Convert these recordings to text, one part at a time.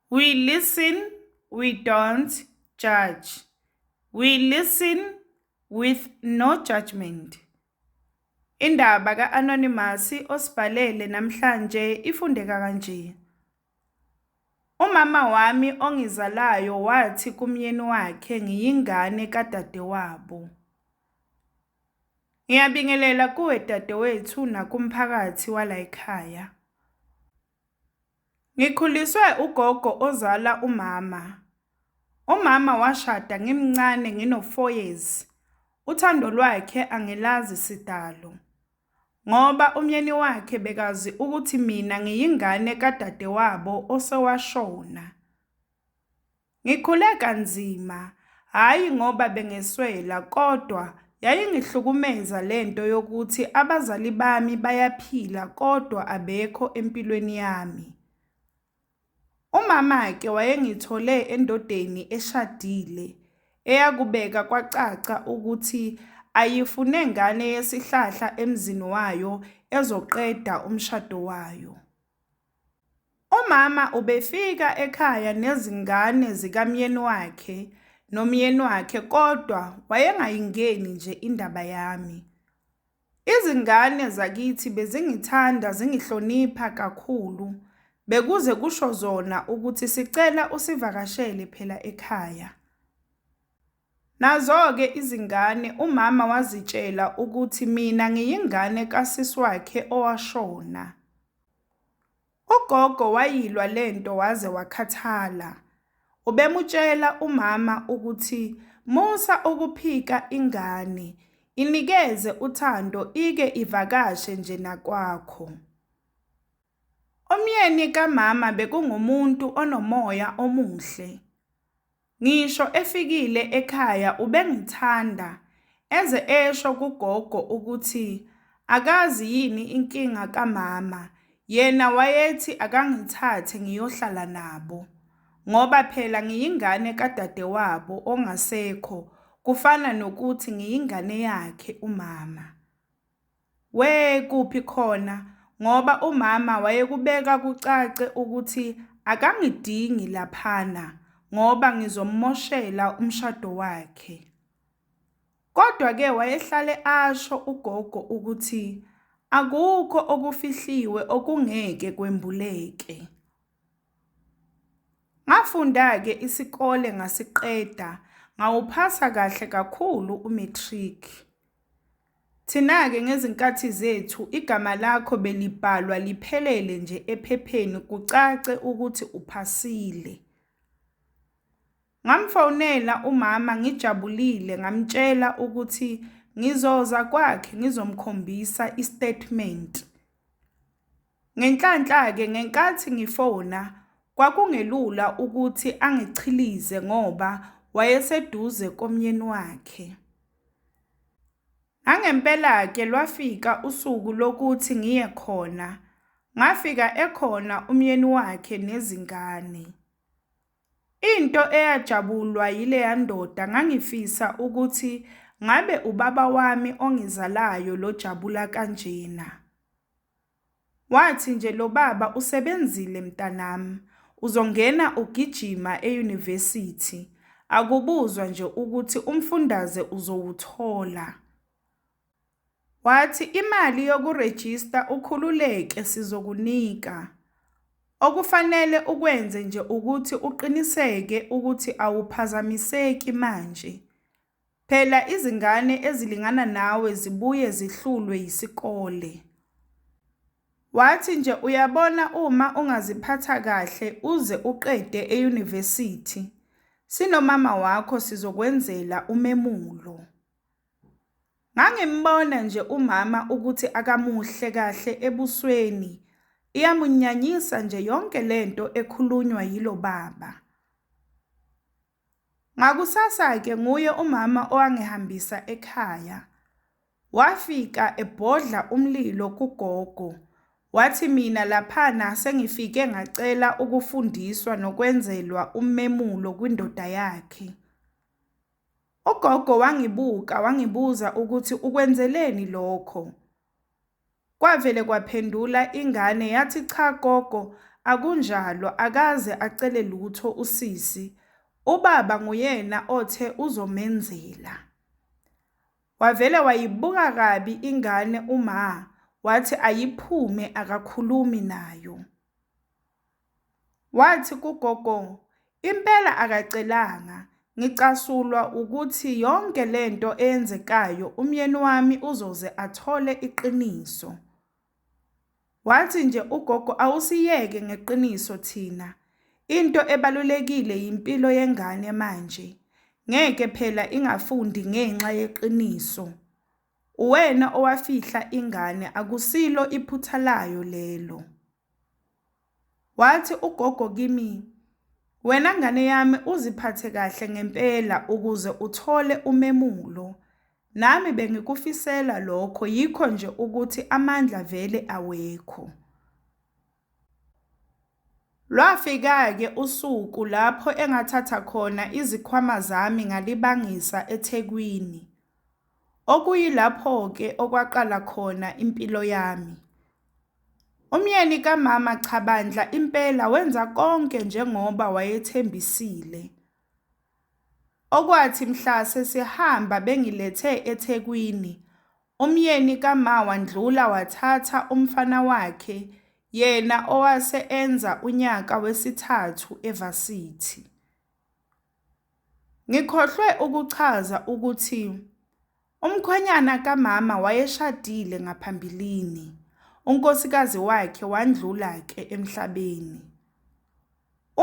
We listen, we don't judge. We listen with no judgment. Indaba ka-Anonymous osibhalele namhlanje ifundeka kanje. Umama wami ongizalayo wathi kumyeni wakhe ngiyingane kadadewabo. Ngiyabingelela kuwe dadewethu nakumphakathi walayikhaya. Ngikhuliswe ugogo ozala umama. Umama washada ngimncane ngino 4 years. Uthando lwakhe angilazi sidalo. Ngoba umyeni wakhe bekazi ukuthi mina ngiyingane kadadewabo osewashona. Ngikhule kanzima, hhayi ngoba bengeswela kodwa yayingihlukumeza le nto yokuthi abazali bami bayaphila kodwa abekho empilweni yami. Umama-ke wayengithole endodeni eshadile eyakubeka kwacaca ukuthi ayifune ngane yesihlahla emzini wayo ezoqeda umshado wayo. Umama ubefika ekhaya nezingane zikamyeni wakhe nomyeni wakhe kodwa wayengayingeni nje indaba yami. Izingane zakithi bezingithanda zingihlonipha kakhulu, bekuze kusho zona ukuthi sicela usivakashele phela ekhaya. Nazo-ke izingane, umama wazitshela ukuthi mina ngiyingane kasisi wakhe owashona. Ugogo wayilwa le nto waze wakhathala. Ubemutshela umama ukuthi musa ukuphika ingane, inikeze uthando ike ivakashe nje nakwakho. Umyeni kamama bekungumuntu onomoya omuhle. Ngisho efikile ekhaya ubengithanda, eze esho kugogo ukuthi akazi yini inkinga kamama, yena wayethi akangithathe ngiyohlala nabo. Ngoba phela ngiyingane kadadewabo ongasekho, kufana nokuthi ngiyingane yakhe umama. Wee kuphi khona ngoba umama wayekubeka kucace ukuthi akangidingi laphana ngoba ngizommoshela umshado wakhe. Kodwa ke wayehlale asho ugogo ukuthi akukho okufihliwe okungeke kwembuleke. Ngafunda ke isikole ngasiqeda ngawuphasa kahle kakhulu umatric. Thina-ke ngezinkathi zethu igama lakho belibhalwa liphelele nje ephepheni kucace ukuthi uphasile. Ngamfonela umama ngijabulile ngamtshela ukuthi ngizoza kwakhe ngizomkhombisa istatement. Ngenhlanhla-ke ngenkathi ngifona kwakungelula ukuthi angichilize ngoba wayeseduze komyeni wakhe. Nangempela-ke lwafika usuku lokuthi ngiye khona, ngafika ekhona umyeni wakhe nezingane. Into eyajabulwa yileya ndoda ngangifisa ukuthi ngabe ubaba wami ongizalayo lojabula kanjena. Wathi nje lobaba usebenzile mntanam uzongena ugijima e university akubuzwa nje ukuthi umfundaze uzowuthola. Wathi imali yokurejista ukhululeke sizokunika. Okufanele ukwenze nje ukuthi uqiniseke ukuthi awuphazamiseki manje. Phela izingane ezilingana nawe zibuye zihlulwe yisikole. Wathi nje uyabona uma ungaziphatha kahle uze uqede eyunivesithi, sinomama wakho sizokwenzela umemulo. Ngangimbona nje umama ukuthi akamuhle kahle ebusweni, iyamunyanyisa nje yonke lento ekhulunywa yilo baba. Ngakusasa-ke nguye umama owangihambisa ekhaya. Wafika ebhodla umlilo kugogo. Wathi mina laphana sengifike ngacela ukufundiswa nokwenzelwa ummemulo kwindoda yakhe. Ugogo wangibuka wangibuza ukuthi ukwenzeleni lokho. Kwavele kwaphendula ingane yathi cha gogo akunjalo akaze acele lutho usisi ubaba nguyena othe uzomenzela. Wavele wayibuka kabi ingane uMah wathi ayiphume akakhulumi nayo. Wathi kugogo, Impela akacelanga. Ngicasulwa ukuthi yonke le nto eyenzekayo umyeni wami uzoze athole iqiniso. Wathi nje ugogo, Awusiyeke ngeqiniso thina. Into ebalulekile yimpilo yengane manje. Ngeke phela ingafundi ngenxa yeqiniso. Uwena owafihla ingane, akusilo iphutha layo lelo. Wathi ugogo kimi, Wena ngane yami uziphathe kahle ngempela ukuze uthole umemulo. Nami bengikufisela lokho yikho nje ukuthi amandla vele awekho. Lwafika-ke usuku lapho engathatha khona izikhwama zami ngalibangisa eThekwini. okuyilapho-ke okwaqala khona impilo yami. Umyeni kamama cha bandla impela wenza konke njengoba wayethembisile. Okwathi mhla sesihamba bengilethe eThekwini, umyeni kama wandlula wathatha umfana wakhe yena owase enza unyaka wesithathu eVarsity. Ngikhohlwe ukuchaza ukuthi umkhwenyana kamama wayeshadile ngaphambilini, unkosikazi wakhe wandlula-ke emhlabeni.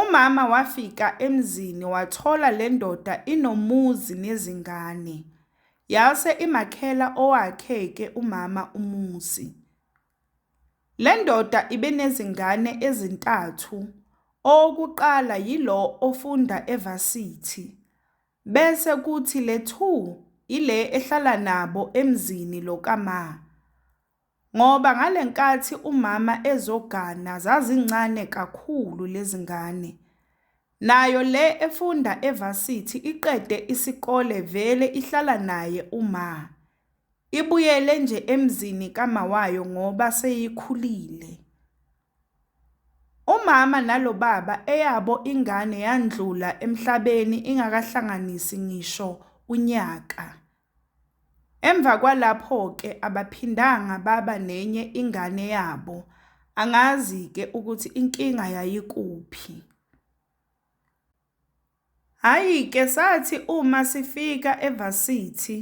Umama wafika emzini wathola le ndoda inomuzi nezingane, yase imakhela owakhe-ke umama umuzi. Le ndoda ibenezingane ezintathu, owokuqala yilo ofunda eVarsity, bese kuthi le two ile ehlala nabo emzini lo kama, ngoba ngalenkathi umama ezogana zazincane kakhulu lezingane. Nayo le efunda eVarsity iqede isikole vele ihlala naye umah. Ibuyele nje emzini kamawayo ngoba seyikhulile. Umama nalo baba eyabo ingane yandlula emhlabeni ingakahlanganisi ngisho unyaka. Emva kwalapho-ke abaphindanga baba nenye ingane yabo, angazi-ke ukuthi inkinga yayikuphi. Hhayi ke sathi uma sifika eVarsity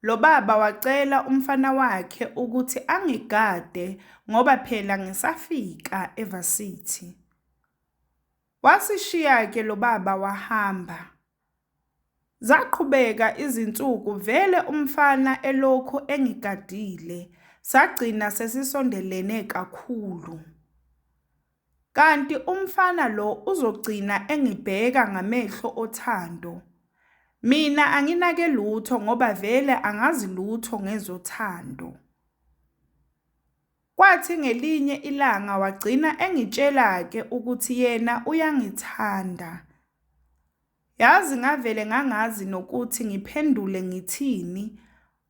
lo baba wacela umfana wakhe ukuthi angigade ngoba phela ngisafika eVarsity. Wasishiya ke lo baba wahamba. Zaqhubeka izinsuku vele umfana elokhu engigadile, sagcina sesisondelene kakhulu. Kanti umfana lo uzogcina engibheka ngamehlo othando. Mina anginake lutho ngoba vele angazi lutho ngezothando. Kwathi ngelinye ilanga wagcina engitshela-ke ukuthi yena uyangithanda. Yazi ngavele ngangazi nokuthi ngiphendule ngithini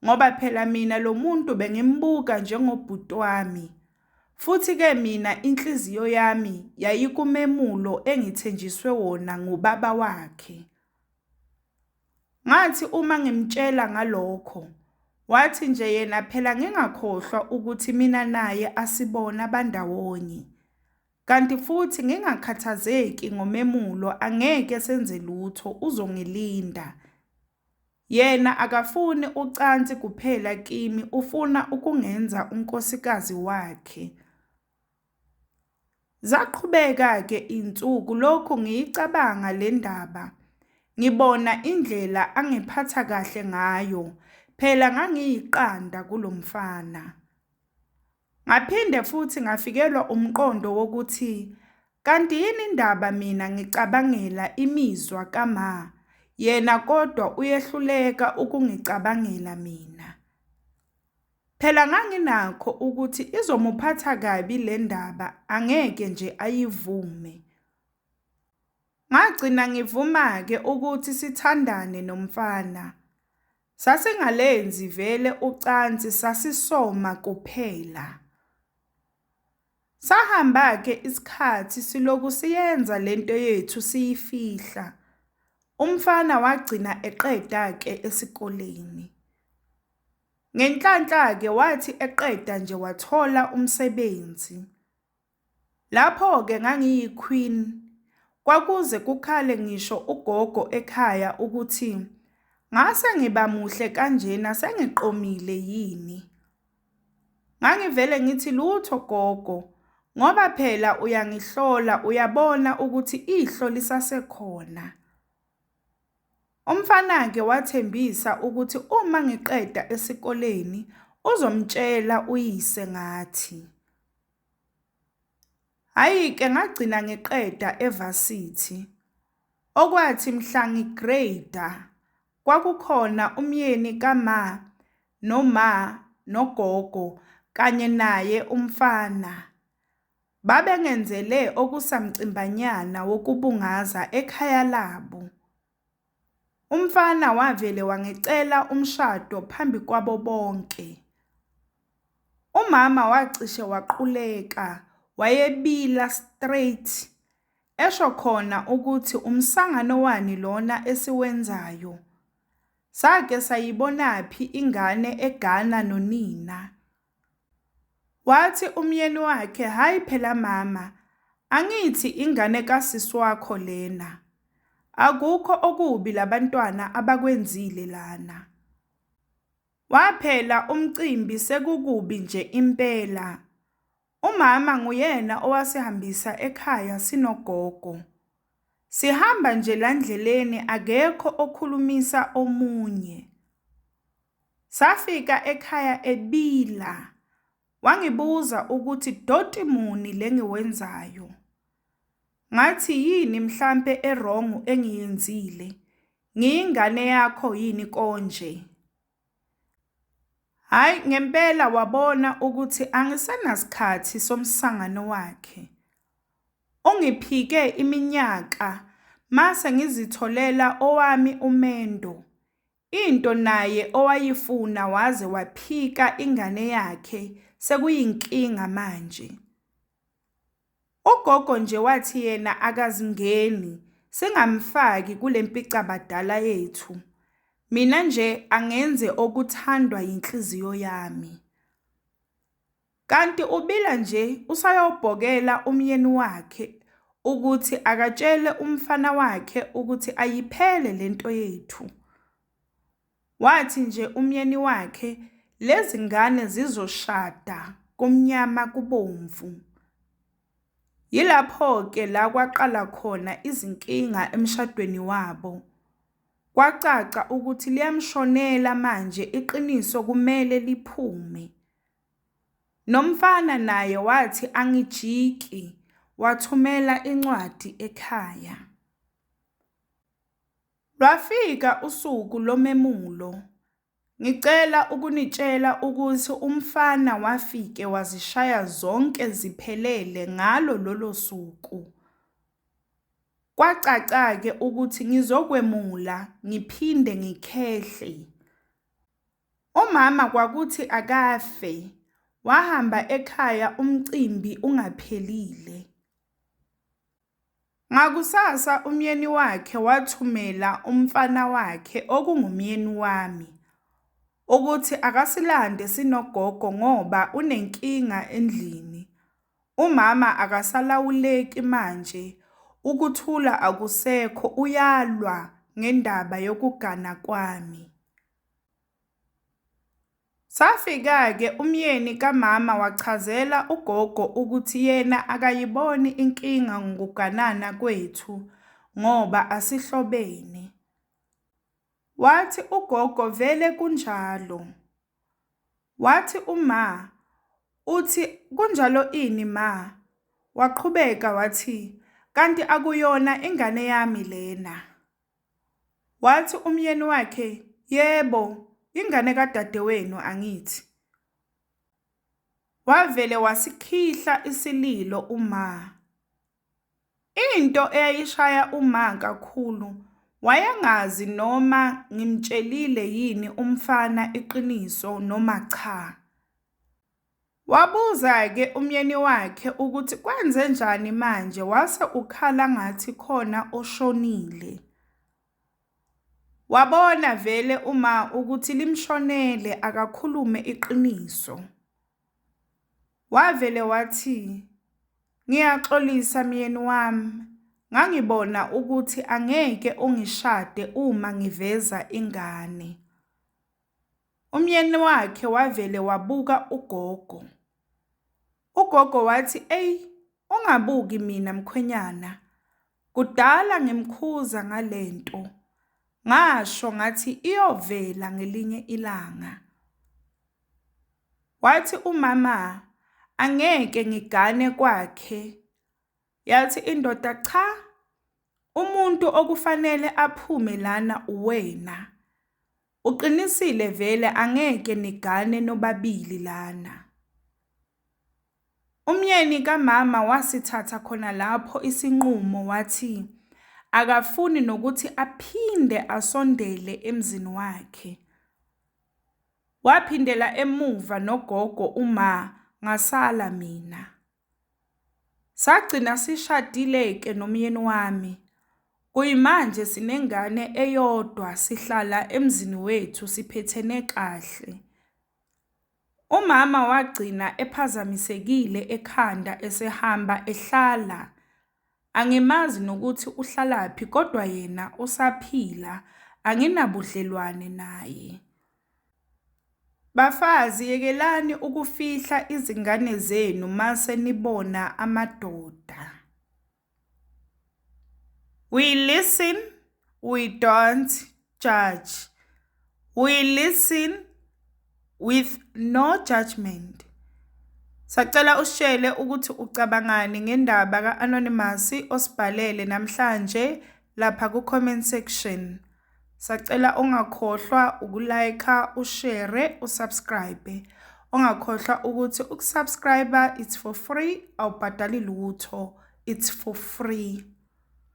ngoba phela mina lo muntu bengimbuka njengobhuti wami. Futhi-ke mina inhliziyo yami yayikumemulo engithenjiswe wona ngubaba wakhe. Ngathi uma ngimtshela ngalokho, wathi nje yena phela ngingakhohlwa ukuthi mina naye asibona bandawonye. Kanti futhi ngingakhathazeki ngomemulo angeke senze lutho uzongilinda. Yena akafuni ucansi kuphela kimi ufuna ukungenza unkosikazi wakhe. Zaqhubeka-ke insuku lokhu ngiyicabanga le ndaba. Ngibona indlela angiphatha kahle ngayo, phela ngangiyiqanda kulo mfana. Ngaphinde futhi ngafikelwa umqondo wokuthi kanti yini indaba mina ngicabangela imizwa kama, yena kodwa uyehluleka ukungicabangela mina. Phela nganginakho ukuthi izomuphatha kabi le ndaba angeke nje ayivume. Ngagcina ngivuma-ke ukuthi sithandane nomfana. Sasingalenzi vele ucansi sasisoma kuphela. Sahamba ke isikhathi siloku siyenza lento yethu siyifihla. Umfana wagcina eqeda ke esikoleni. Ngenhlanhla ke wathi eqeda nje wathola umsebenzi. Lapho-ke ngangiyi-queen, kwakuze kukhale ngisho ugogo ekhaya ukuthi ngase ngiba muhle kanjena sengiqomile yini. Ngangivele ngithi lutho gogo ngoba phela uyangihlola uyabona ukuthi ihlo lisasekhona. Umfana-ke wathembisa ukuthi uma ngiqeda esikoleni uzomtshela uyise ngathi. Hhayi-ke ngagcina ngiqeda eVarsity. Okwathi mhla ngi-grade-a kwakukhona umyeni kama noma nogogo kanye naye umfana. Babengenzele okusamcimbanyana wokubungaza ekhaya labo. Umfana wavele wangicela umshado phambi kwabo bonke. Umama wacishe waquleka wayebila straight esho khona ukuthi umsangano wani lona esiwenzayo. Sake sayibonaphi ingane egana nonina. Wathi umyeni wakhe, Hhayi phela mama, angithi ingane kasisi wakho lena. Akukho okubi labantwana abakwenzile lana. Waphela umcimbi sekukubi nje impela. Umama nguyena owasihambisa ekhaya sinogogo. Sihamba nje landleleni akekho okhulumisa omunye. Safika ekhaya ebila. Wangibuza ukuthi doti muni lengiwenzayo. Ngathi yini mhlampe ewrong engiyenzile. Ngiyingane yakho yini konje? Hayi ngempela wabona ukuthi angisenasikhathi somsangano wakhe. Ungiphike iminyaka mase ngizitholela owami umendo. Into naye owayifuna waze waphika ingane yakhe sekuyinkinga manje. Ugogo nje wathi yena akazingeni singamfaki kulempicabadala yethu. Mina nje angenze okuthandwa yinhliziyo yami. Kanti ubila nje usayobhokela umyeni wakhe ukuthi akatshele umfana wakhe ukuthi ayiphele lento yethu. Wathi nje umyeni wakhe lezi ngane zizoshada kumnyama kubomvu. Yilapho-ke la kwaqala khona izinkinga emshadweni wabo. Kwacaca ukuthi liyamshonela manje iqiniso kumele liphume. Nomfana naye wathi angijiki wathumela incwadi ekhaya. Lwafika usuku lomemulo. Ngicela ukunitshela ukuthi umfana wafike wazishaya zonke ziphelele ngalo lolo suku. Kwacaca-ke ukuthi ngizokwemula ngiphinde ngikhehle. Umama kwakuthi akafe, wahamba ekhaya umcimbi ungaphelile. Ngakusasa umyeni wakhe wathumela umfana wakhe okungumyeni wami ukuthi akasilande sinogogo ngoba unenkinga endlini. Umama akasalawuleki manje, ukuthula akusekho uyalwa ngendaba yokugana kwami. Safika-ke umyeni kamama wachazela ugogo ukuthi yena akayiboni inkinga ngokuganana kwethu ngoba asihlobene. Wathi ugogo vele kunjalo. Wathi uma uthi kunjalo ini ma? Waqhubeka wathi kanti akuyona ingane yami lena. Wathi umyeni wakhe, Yebo, ingane kadadewenu, angithi? Wavele wasikhihla isililo uMa. Into eyayishaya uMa kakhulu wayengazi noma ngimtshelile yini umfana iqiniso noma cha. Wabuza-ke umyeni wakhe ukuthi kwenzenjani manje wase ukhala ngathi khona oshonile. Wabona vele uma ukuthi limshonele akakhulume iqiniso. Wavele wathi ngiyaxolisa myeni wami ngangibona ukuthi angeke ungishade uma ngiveza ingane. Umyeni wakhe wavele wabuka ugogo. Ugogo wathi, eyi ungabuki mina mkhwenyana, kudala ngimkhuza ngale nto. Ngasho ngathi iyovela ngelinye ilanga. Wathi umama angeke ngigane kwakhe. Yathi indoda cha, umuntu okufanele aphume lana uwena. Uqinisile vele angeke nigane nobabili lana. Umyeni kamama wasithatha khona lapho isinqumo wathi akafuni nokuthi aphinde asondele emzini wakhe. Waphindela emuva nogogo uma ngasala mina. Sagcina sishadile-ke nomyeni wami. Kuyimanje sinengane eyodwa, sihlala emzini wethu siphethene kahle. Umama wagcina ephazamisekile ekhanda esehamba ehlala. Angimazi nokuthi uhlalaphi kodwa yena usaphila anginabudlelwane naye. Bafazi yekelani ukufihla izingane zenu mase nibona amadoda. We listen, we don't judge. We listen with no judgment. Sacela usishele ukuthi ucabangani ngendaba ka-Anonymous osibhalele namhlanje lapha ku-comment section. Sacela ungakhohlwa ukulayikha, ushere, usubscribe. Ungakhohlwa ukuthi ukusubscribe it's for free, awubhadali lutho. It's for free.